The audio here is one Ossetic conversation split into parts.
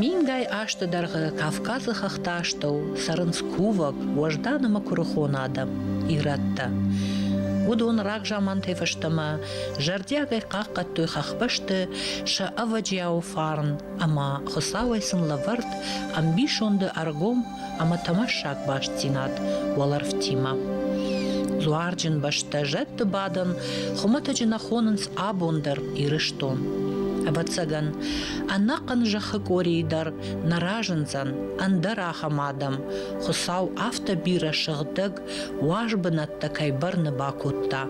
Мингай азты дӕргъы Кавказы хӕхтӕастӕу цӕрынц кувӕг, уӕздан ӕмӕ куырыхон адӕм, ирӕттӕ. Уыдон рагзамантӕй фӕстӕмӕ зӕрдиагӕй хъахъхъӕдтой хӕхбӕсты сӕ ӕвӕджиауы фарн ӕмӕ Хуыцауӕй сын лӕвӕрд ӕмбисонды ӕргом ӕмӕ тӕмӕссаг бастдзинад уӕлӕрвтимӕ. Дзуарджын бӕстӕ зӕдты бадӕн хуымӕтӕджы нӕ хонынц абон дӕр Ирыстон. Ӕвӕццӕгӕн, ӕнӕхъӕн зӕххы къорийы дӕр нӕ разындзӕн ӕндӕр ахӕм адӕм. Хуыцау афтӕ бирӕ сыгъдӕг уаз бынӕттӕ кӕй бӕрны бакодта.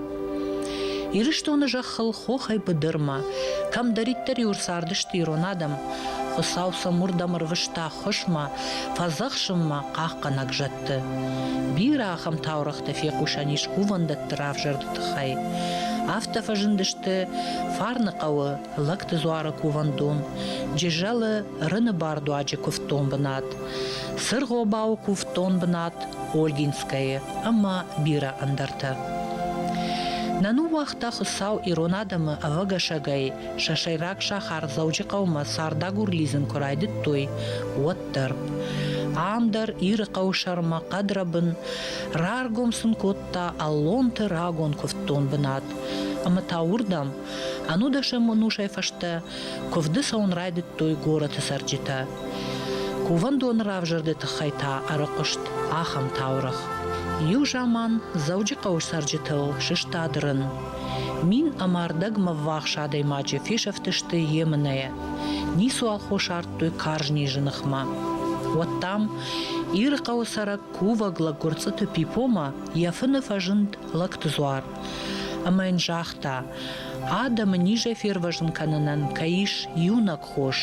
Ирыстоны зӕххыл хохӕй быдырмӕ, кӕмдӕриддӕр-иу цардысты ирон адӕм, Хуыцау сӕм уырдӕм ӕрвыста хуысмӕ, фӕдзӕхсынмӕ хъахъхъӕнӕг зӕдты. Бирӕ ахӕм таурӕгътӕ фехъусӕн ис кувӕндӕтты равзӕрды тыххӕй. Афтӕ фӕзындысты Фарны хъӕуы Лӕгты дзуары кувӕндон, Джызӕлы Рыны бардуаджы куывддон бынат, Цыргъобауы куывддон бынат Ольгинскӕйы ӕмӕ бирӕ ӕндӕртӕ. Нӕ ныууагъта Хуыцау ирон адӕмы ӕвӕгӕсӕгӕй сӕ сӕйраг сахар Дзӕуджыхъӕумӕ цардагур лидзын куы райдыдтой, уӕддӕр. Ам дӕр Иры хъӕуы сӕрмӕ хъӕдрӕбын раргом сын кодта Аллонты рагон куывддон бынат. Ӕмӕ та уырдӕм Ӕнудӕсӕм ӕнусӕй фӕстӕ куывды цӕуын райдыдтой горӕты цӕрджытӕ. Кувӕндоны равзӕрды тыххӕй та ӕрыхъуыст ахӕм таурӕгъ. Иу заман Дзӕуджыхъӕуы цӕрджытыл сыстад рын. Мин ӕмӕ ӕрдӕгмӕ ввахс адӕймаджы фесӕфтысты емынӕйӕ. Ницуал хос ардтой карз низы ныхмӕ. Уӕд дам Иры хъӕуы цӕрӕг кувӕг лӕггуырцъыты Пипомӕ йӕ фыны фӕзынд лӕгтыдзуар. Ӕмӕ йын загъта, адӕмы низӕй фервӕзын кӕнынӕн кӕй ис иунӕг хос.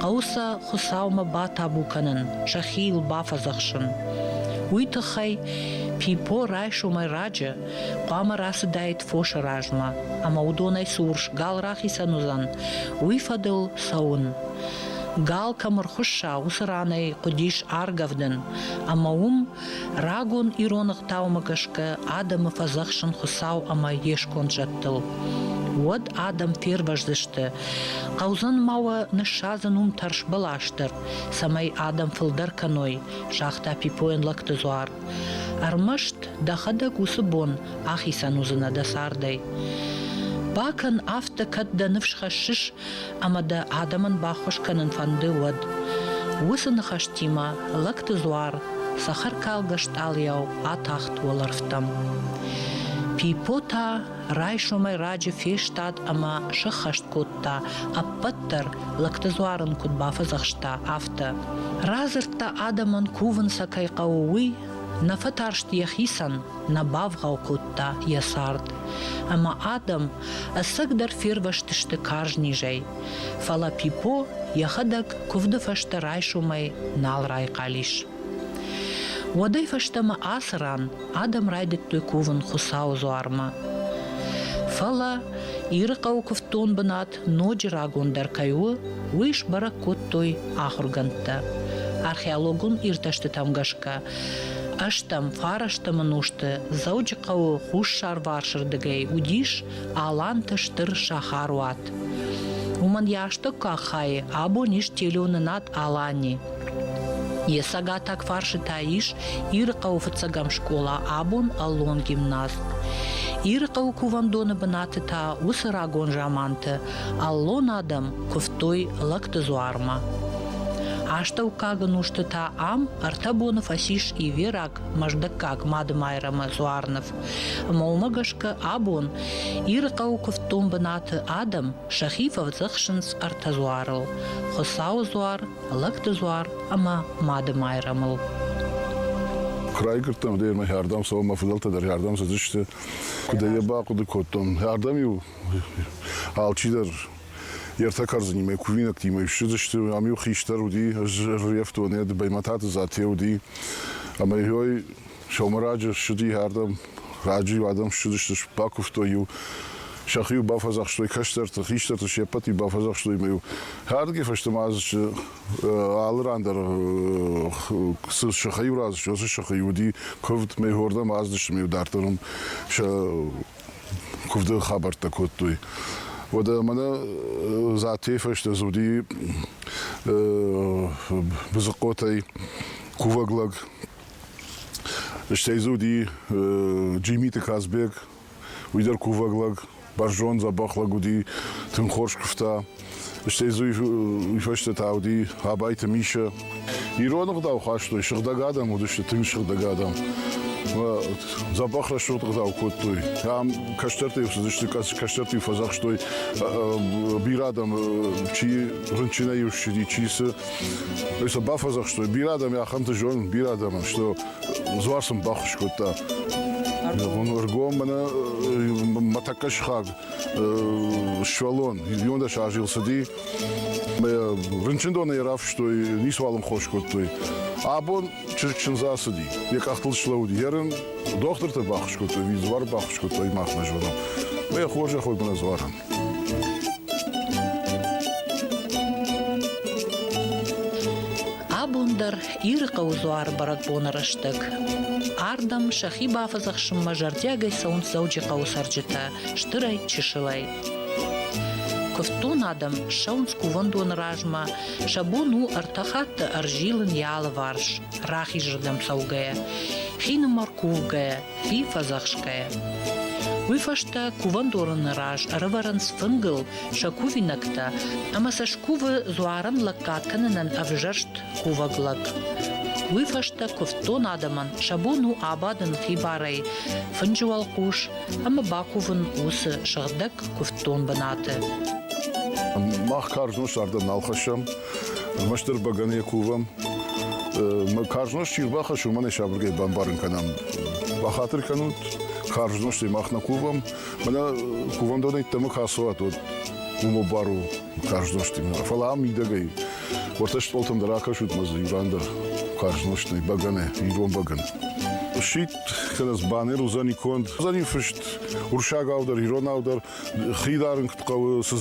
Хъӕуы сӕ Хуыцаумӕ батабу кӕнын, сӕхи йыл бафӕдзӕхсын. Уый тыххӕй Пипо райсомӕй раджы хъуамӕ рацыдаид фосы размӕ, ӕмӕ уыдонӕй цы урс гал рахицӕн уыдзӕн, уый фӕдыл цӕуын. Гал кӕм ӕрхуысса, уыцы ранӕй хъуыдис аргӕвдын, ӕмӕ уым Рагон ирон ӕгъдаумӕ гӕсгӕ адӕмы фӕдзӕхсын Хуыцау ӕмӕ йе сконд зӕдтыл. Уӕд адӕм фервӕздзысты, хъӕудзӕн ма уӕ ныссадзын уым тӕрс бӕлас дӕр, цӕмӕй адӕм фылдӕр кӕной, загъта Пипойӕн Лӕгты Дзуар. Ӕрмӕст дӕхӕдӕг уыцы бон ахицӕн уыдзынӕ дӕ цардӕй. Бакӕн афтӕ, кӕд дӕ ныфс хӕссыс, ӕмӕ дӕ адӕмӕн баххуыс кӕнын фӕнды, уӕд. Уыцы ныхӕстимӕ Лӕгты дзуар цӕхӕркалгӕ стъалыйау атахт уӕлӕрвтӕм. Пипо та райсомӕй раджы фестад ӕмӕ сыххӕст кодта, ӕппӕт дӕр лӕгты дзуар ын куыд бафӕдзӕхста, афтӕ. Радзырдта адӕмӕн кувын сӕ кӕй хъӕуы, уый, нӕ фӕтарст йӕхицӕн, нӕ бавгъау кодта йӕ цард. Ӕмӕ адӕм ӕцӕгдӕр фервӕзтысты карз низӕй. Фӕлӕ Пипо йӕхӕдӕг куывды фӕстӕ райсомӕй нал райхъал ис. Уӕдӕй фӕстӕмӕ ацы ран адӕм райдыдтой кувын Хуыцауы дзуармӕ. Фӕлӕ Иры хъӕуы куывддон бынат ноджы рагондӕр кӕй у, уый сбӕрӕг кодтой ахуыргӕндтӕ. Археологон иртӕстытӕм гӕсгӕ, ӕстӕм фарастӕмы нозты Дзӕуджыхъӕуы хуссарварсырдыгӕй уыдис Аланты стыр сахаруат. Уымӕн йӕ астӕуккаг хайы абон ис телеуынынад Алани. Йӕ цӕгатаг фарсытӕ ис Иры хъӕуы фыццӕгӕм скъола абон Аллон гимназ. Иры хъӕуы кувӕндоны бынаты та уыцы рагон заманты Аллон адӕм куывтой лӕгты дзуармӕ. Астӕуккаг ӕнусты та ам ӕртӕ боны фӕцис ивераг Мӕздӕггаг Мадымайрӕмы Дзуарныв. Ӕмӕ уымӕ гӕсгӕ абон Иры хъӕуы куывддон бынаты адӕм сӕхи фӕвдзӕхсынц ӕртӕ дзуарыл: Хуыцауы дзуар, Лӕгтызуар ӕмӕ Мады Майрӕмыл. Куы райгуырдтӕн, дӕр мӕхӕрдӕм цӕуын, мӕ фыдӕлтӕ дӕр хӕрдӕм цыдысты. Куыд ӕй бахъуыды кодтон, хӕрдӕм-иу алчидӕр йе ртӕ кӕрдзынимӕ кувинӕгтимӕ ссыдысты. Ам-иу хистӕр уыди, ӕз рӕвдонӕй Баймӕтаты Зате уыди. Ӕмӕ йой Сомыраджы ссыди ардӕм, раджы-иу адӕм ссыдысты, бакуывтой-иу, сӕхи-иу бафӕдзӕхстой кӕстӕрты, хистӕрты се ппӕт-иу бафӕдзӕхстой ӕмӕ-иу хӕрдгӕ фӕстӕмӕ азы алы ран дӕр цы сыхӕй-иу разысты, уыцы сыхӕй уыди куывд, мӕйуырдӕм аздысты ӕмӕ-иу дарддӕр уым сӕ куывды хабӕрттӕ кодтой. Уӕдӕ мӕнӕ Затейы фӕстӕ дзы уыди Бызыхъотӕй кувӕг лӕг, Стӕй дзы уыди Джимиты Казбек, уый дӕр кувӕг лӕг, бӕрзонд, дзӕбӕх лӕг уыди, тынг хорз куывта. Стӕй дзы уый фӕстӕ та уыди Абайты Мишӕ. Ирон ӕгъдау хастой, сыгъдӕг адӕм уыдысты, тынг сыгъдӕг адӕм. Дзӕбӕх рӕсугъд ӕгъдау кодтой. Ам кӕстӕртӕй цыдысты, кӕстӕрты фӕдзӕхстой бирӕ адӕм, чи рынчынӕй ссыди, чи цы. Уый сын бафӕдзӕхстой, бирӕ адӕм ахӕмты зонын, бирӕ адӕмӕн, что дзуар сын баххуыс кодта. Он ӕргом мӕнӕ мӕ тӕккӕ сыхаг сывӕллон иуондӕс азы цыди. Мӕ рынчындоны йӕ рафыстой, ницыуал ын хос кодтой. Абон Чызг чындз ацыди, йӕ къӕхтыл слӕууыд йӕ рын, дохтыртӕ баххуыс кодтой, ӕви-дзуар баххуыс кодтой, махмӕ зонӕм. Мӕ хорзӕх уӕд мӕ дзуарӕн. Абон дӕр Иры хъӕуы дзуары бӕрӕгбоны рӕстӕг ардӕм сӕхи бафӕдзӕхсынмӕ зӕрдиагӕй цӕуынц Дзӕуджыхъӕуы цӕрджытӕ стырӕй-чысылӕй. Куывддон адӕм ссӕуынц кувӕндоны размӕ, сӕ бон у ӕртӕ хатты ӕрзилын йӕ алыварс, рахизырдӕм цӕугӕйӕ, хинымӕр кувгӕйӕ, хи фӕдзӕхсгӕйӕ. Уый фӕстӕ кувӕндоны раз ӕрӕвӕрынц фынгыл сӕ кувинӕгтӕ ӕмӕ сӕ скувы дзуарӕн лӕггад кӕнынӕн ӕвзӕрст кувӕг лӕг. Уый фӕстӕ куывддон адӕмӕн сӕ бон у абадын хибарӕй, фынджы уӕлхъус ӕмӕ бакувын уыцы сыгъдӕг куывддон бынаты. Мах карз нозт ардӕм нал хӕссӕм, ӕрмӕстдӕр бӕгӕныйӕ кувӕм. Мы карз нозт чи рбахӕссы, уымӕн ӕй сабыргай бамбарын кӕнӕм. Бахатыр кӕнут, карз нозтӕй мах нӕ кувӕм, мӕнӕ кувӕндонӕй йеддӕмӕ кӕсуат, уӕд уымӕ бар у карз нозтимӕ. Фӕлӕ ам мидӕгӕй уӕртӕ стъолтӕм дӕр акӕсут мӕ дзы иу ран дӕр карз нозт нӕй, бӕгӕны, ирон бӕгӕн. Сидт кӕнӕ банер уыдзӕни конд. Уыдзӕни фыст урсагау дӕр, иронау дӕр, хи дарын куыд хъӕуы, цы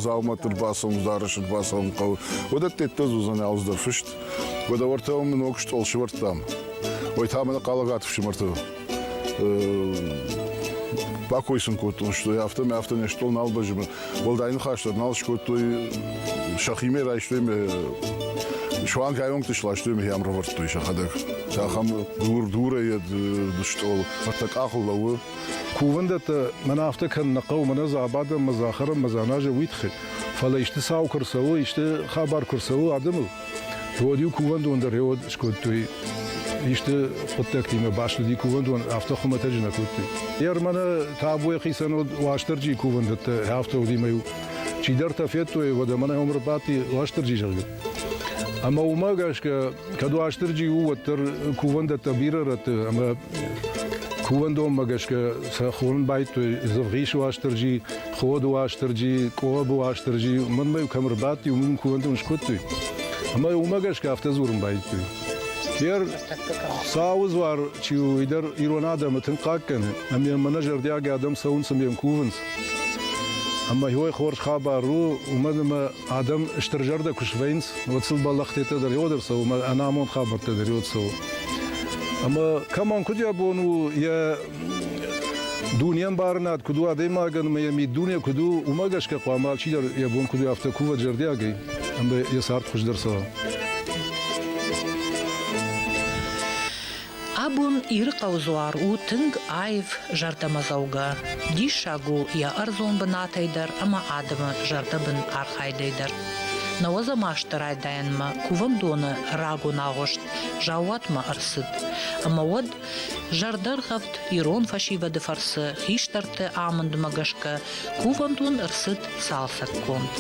дзаумӕтты рбацӕуын, дарӕсы рбацӕуын хъӕуы. Уыдӕттӕ дӕр уыдзӕни алцыдӕр фыст. Уӕдӕ уӕртӕ мын ног стъол сывӕрдтам. Ой та мӕнӕ хъалагаты фсымӕрты бакой сын кодтон, что афтӕ мӕ афтӕ не стъол нал бӕзмы. Уӕлдай ныхас дӕр нал скодтой, сӕхимӕ райстой мӕ суанг айонкты сластой мӕ йӕм равӕрдтой сӕхӕдӕг. Ахӕм дур-дурӕй стъол фӕттӕ къахыл лӕууы. Кувӕндӕттӕ мӕн афтӕ кӕн нӕ хъӕу, мӕнӕ Забадӕн, мӕ Захарӕн, мӕ Дзаназӕ уый тыххӕй. Фӕлӕ исты цау куы рцӕуы, исты хабар куы рцӕуы адӕмыл, Уӕд-иу кувӕндон дӕр рӕуӕд скодтой. Исты хъуыддӕгтимӕ баслыди кувӕндон, афтӕ хуымӕтӕджы нӕ кодтой. Ермӕны табуйы хицӕн уыд Уастырджийы кувӕндӕттӕ, автоудимӕ-иу чидӕртӕ федтой, уӕдӕ мӕнӕ уым ӕрбадти Уастырджи, зӕгъгӕ. Ӕмӕ уымӕ гӕсгӕ, кӕд Уастырджи у, уӕддӕр кувӕндӕттӕ бирӕ рӕтты ӕмӕ кувӕндонмӕ гӕсгӕ сӕ хонын байдтой Дзывгъис Уастырджи, Ход Уастырджи, Къоб Уастырджи, мӕнмӕ кӕм ӕрбадти, уым кувӕнтӕ скодтой. Ӕмӕ уымӕ гӕсгӕ афтӕ дзурын байдыдтой. Гер Сауы дзуар чи у, уый дӕр ирон адӕмы тынг хъаггӕны, ӕмӕ мӕнӕ зӕрдиаг адӕм цӕуынц ӕмӕ йӕм кувынц. Ӕмӕ уый хорз хабар у, уымӕн ӕмӕ Адӕм стыр зӕрдӕ куы свӕййынц, уӕд сыл бӕллӕхтӕ дӕр иуӕд ӕрцӕуы ӕмӕ ӕнамонд хабӕрттӕ дӕр иуӕд цӕуы. Ӕмӕ кӕмӕн куыд йӕ бон у йӕ дунеӕмбарынад куыд у адӕймагӕн ӕмӕ йӕ миддуне куыд у, уымӕ гӕсгӕ хъуамӕ алчидӕр йӕ бон куыд у афтӕ кувӕд зӕрдиагӕй ӕмӕ йӕ цард хуыздӕр цӕуа. Абон Ирыхъӕу Дзуар у тынг аив зӕрдӕмӕдзӕугӕ. Диссаг у йӕ ӕрдзон бынатӕй дӕр ӕмӕ адӕмы зӕрдӕбын архайдӕй дӕр. Науӕдзӕ масты райдайӕнмӕ кувӕндоны рагон агъуыст заууатмӕ ӕрцыд. Ӕмӕ уӕд зӕрдӕргъӕвд ирон фӕсивӕды фӕрцы хистӕрты амындмӕ гӕсгӕ Кувӕнд уын ӕрцыд цалцӕггонд.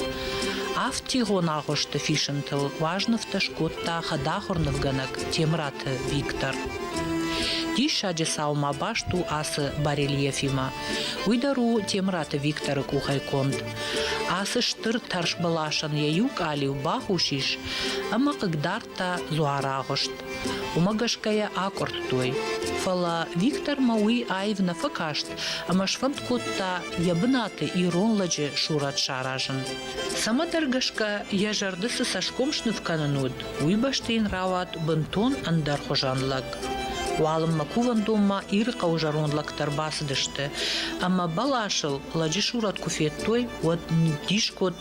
Афтигъон агъуысты фисынтыл уазнывтӕ скодта хӕдахуыр нывгӕнӕг Темраты Виктор. Диссаджы саумӕ баст у ацы барельефимӕ. Уый дӕр у Темраты Викторы къухӕй конд. Ацы стыр тӕрсбӕласӕн йӕ иу къалиу бахус ис ӕмӕ хъыгдард та дзуарагъуыст. Уымӕ гӕсгӕ йӕ акъуырдтой. Фӕлӕ Виктормӕ уый аив нӕ фӕкаст ӕмӕ сфӕнд кодта йӕ бынаты ирон лӕджы сурӕт саразын. Цӕмӕдӕр гӕсгӕ йӕ зӕрды цы цӕсгом сныв кӕнын уыд, уый бӕсты йын рауад бынтон ӕндӕрхуызӕн лӕг. Уалынмӕ кувӕндонмӕ Иры хъӕуы зӕронд лӕгтӕ ӕрбацыдысты, ӕмӕ бӕласыл лӕджы сурӕт куы федтой, уӕд ныддис кодта,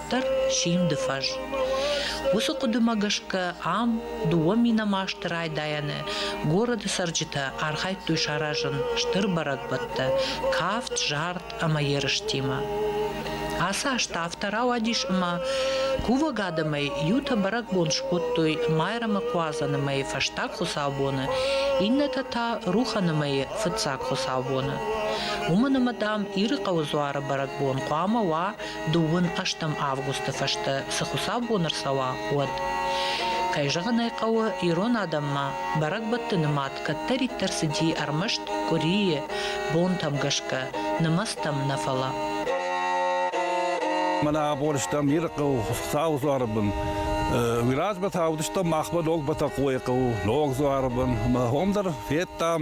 дарддӕр симды фӕз. Уыцы хъуыдымӕ гӕсгӕ ам дыууӕ минамасты райдайӕны городы цӕрджытӕ архайдтой саразын стыр бӕрӕгбӕттӕ кафт, зард ӕмӕ ерыстимӕ. Ацы азты афтӕ рауадис ӕмӕ кувӕг адӕмӕй иутӕ бӕрӕгбон скодтой майрӕмыкуадзӕны мӕйы фӕстаг хуыцаубоны, иннӕтӕ та рухӕны мӕйы фыццаг хуыцаубоны. Уымӕн ӕмӕ дам Ирыхъӕуы дзуары бӕрӕгбон хъуамӕ уа дыууын-ӕстӕм августы фӕстӕ цы хуыцаубон ӕрцӕуа, уӕд. Кӕй зӕгъын ӕй хъӕуы, ирон адӕммӕ бӕрӕгбӕтты нымад кӕддӕриддӕр цыди ӕрмӕст къуырийы бонтӕм гӕсгӕ, нымӕцтӕм нӕ фӕлӕ. Мӕнӕ абон стӕм Иры хъӕу Хуыцауы дзуары бын. Уыйразмӕ та уыдыстӕм махмӕ ног Бӕтӕхъойы хъӕу, ног дзуары бын. Ӕмӕ хом дӕр федтам,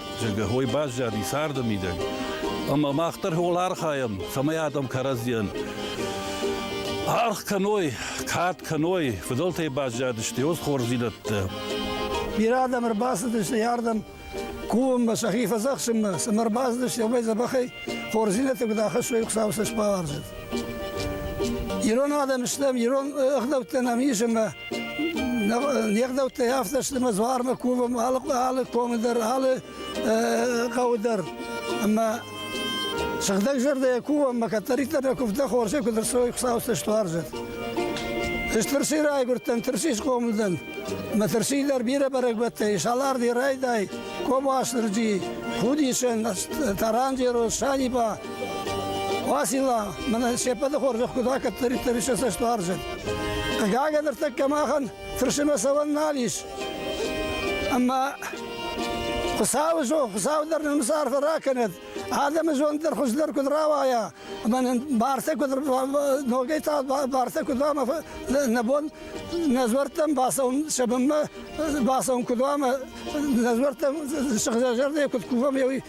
зӕгъгӕ, уой баззади царды мидӕг. Ӕма мах дӕр уол архайӕм, цӕмӕй адӕм кӕрӕдзийӕн аргъ кӕной, кад кӕной, фыдӕлтӕй баззадысты уоз хорздзийнӕдтӕ. Бирӕ адӕм ӕрбацыдысты ярдӕм кувынмӕ, сӕхи фӕдзӕхсынмӕ, цӕмӕ ӕрбацыдысты, уымӕй дзӕбӕхӕй хорздзийнӕдтӕ куыд ахӕссой Хуцау сӕ сбауарзӕт. Ирон адӕм стӕм, ирон ӕгъдӕуттӕ нӕм ис ӕмӕ Не гъдӕуттӕй афтӕ сты мӕ дзуармӕ кувӕм алы, алы комы дӕр, алы хъӕуы дӕр. Ӕмӕ сыгъдӕг зӕрдӕйӕ кувӕм, мӕ кӕддӕриддӕр нӕ куывта хорзӕй, куыд рцой Хуыцауы стуарзӕт. Ӕз тырси райгуырдтӕн, тырси схъомыл дӕн. Мӕ тырси дӕр бирӕ бӕрӕгбӕттӕй, Саларди райдай, Кобуасырджи, Худисӕн, Таранджерос, Саниба, Васила, мӕнӕ се ппӕты хорзӕх куыд кӕддӕриддӕр ис цӕстуарзӕн. Хъыгагӕн ӕртӕккӕ махӕн фырсымӕ цӕуӕн нал ис. Ӕмӕ Хуыцауы зонд, Хуыцау дӕр нын цы арфӕ ракӕнӕд, адӕмы зонд дӕр хуыздӕр куыд рауайа, ӕмӕ нын бартӕ куыд ногӕй та бартӕ куыд уа, нӕ бон нӕ дзуӕрттӕм бацӕуын сӕ бынмӕ бацӕуын куыд уа, нӕ дзуӕрттӕм сыгъдӕг зӕрдӕ куыд кувӕм,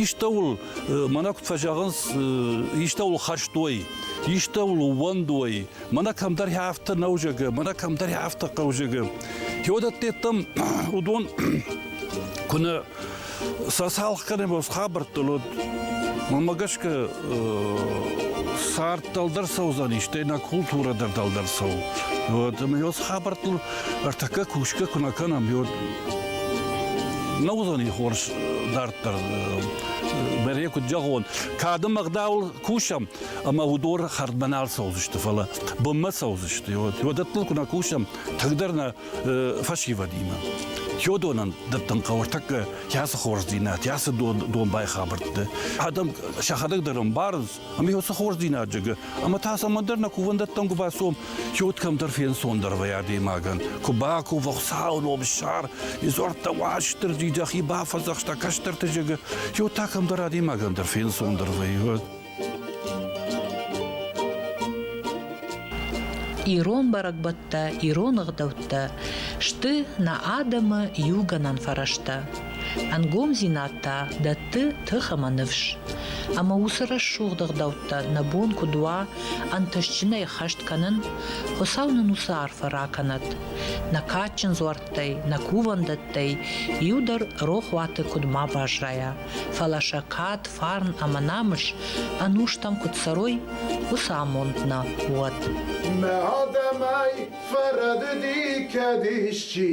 Истӕуыл, мӕнӕ куыд фӕзӕгъынц, истӕуыл хӕрстой, истӕуыл ууӕндой, мӕнӕ кӕмдӕр афтӕ нӕузӕгы, мӕнӕ кӕмдӕр афтӕ хъӕузӕгы. Теодаттеттам уыдон куынӕ сӕ цалх кӕнӕм хабӕрттыл, уӕд мӕ гӕсгӕ цард дӕлдӕр цӕудзӕни, стӕй нӕ культурӕ дӕр дӕлдӕр цӕуы. Вот, ӕмӕ уыцы хабӕрттыл ӕртӕккӕ кусгӕ куы нӕ кӕнӕм, уӕд Нӕ уыдзӕни хорз дарддӕр. Бӕрӕ куыд зӕгъон, кады мӕгъдауыл кусӕм, ӕмӕ уыдор хӕрдмӕ нал цӕудзысты, фӕлӕ бынмӕ цӕудзысты. Уӕдӕттыл куы нӕ кусӕм, тынгдӕр нӕ фӕсивӕдимӕ. Йодонӕн дӕттын хъӕуы ӕртӕккӕ йацы хорздзинад, йацы дон, дон байхабӕртты. Адӕм сӕхӕдӕг дӕр ӕмбарынц, Ами уоцы хорздзийнади гӕ, ӕма та цӕмӕндӕр нӕ кувӕндӕттӕн ку бацом, ке уӕд кӕмдӕр фенцондӕр вӕй адӕймагӕн. Ку баковӕ Хуцауи ном сар, и дзуӕрттӕ Уастирди дӕхи бафӕдзахста кӕстӕрти зӕгӕ, ке уӕд та кӕмдӕр адӕймагӕн дӕр фенцондӕр вӕй. Ирон бӕрӕгбӕттӕ, ирон ӕгъдӕуттӕ сты нӕ адӕмы иугӕнӕн фӕрӕзтӕ. Ӕнгомдзинад та дӕтты тых ӕмӕ ныфс. Ӕмӕ уыцы рӕсугъд ӕгъдӕуттӕ нӕ бон куыд уа ӕнтыстджынӕй ӕххӕст кӕнын? Хуыцау нын уыцы арфӕ ракӕнӕд. Нӕ кадджын дзуӕрттӕй, нӕ кувӕндӕттӕй иу дӕр рохуаты куыд ма баззайа, фӕлӕ сӕ кад, фарн ӕмӕ намыс ӕнустӕм куыд цӕрой, уыцы амонд нӕ уӕд. Нӕ адӕмӕй фӕрӕдыди кӕд исчи,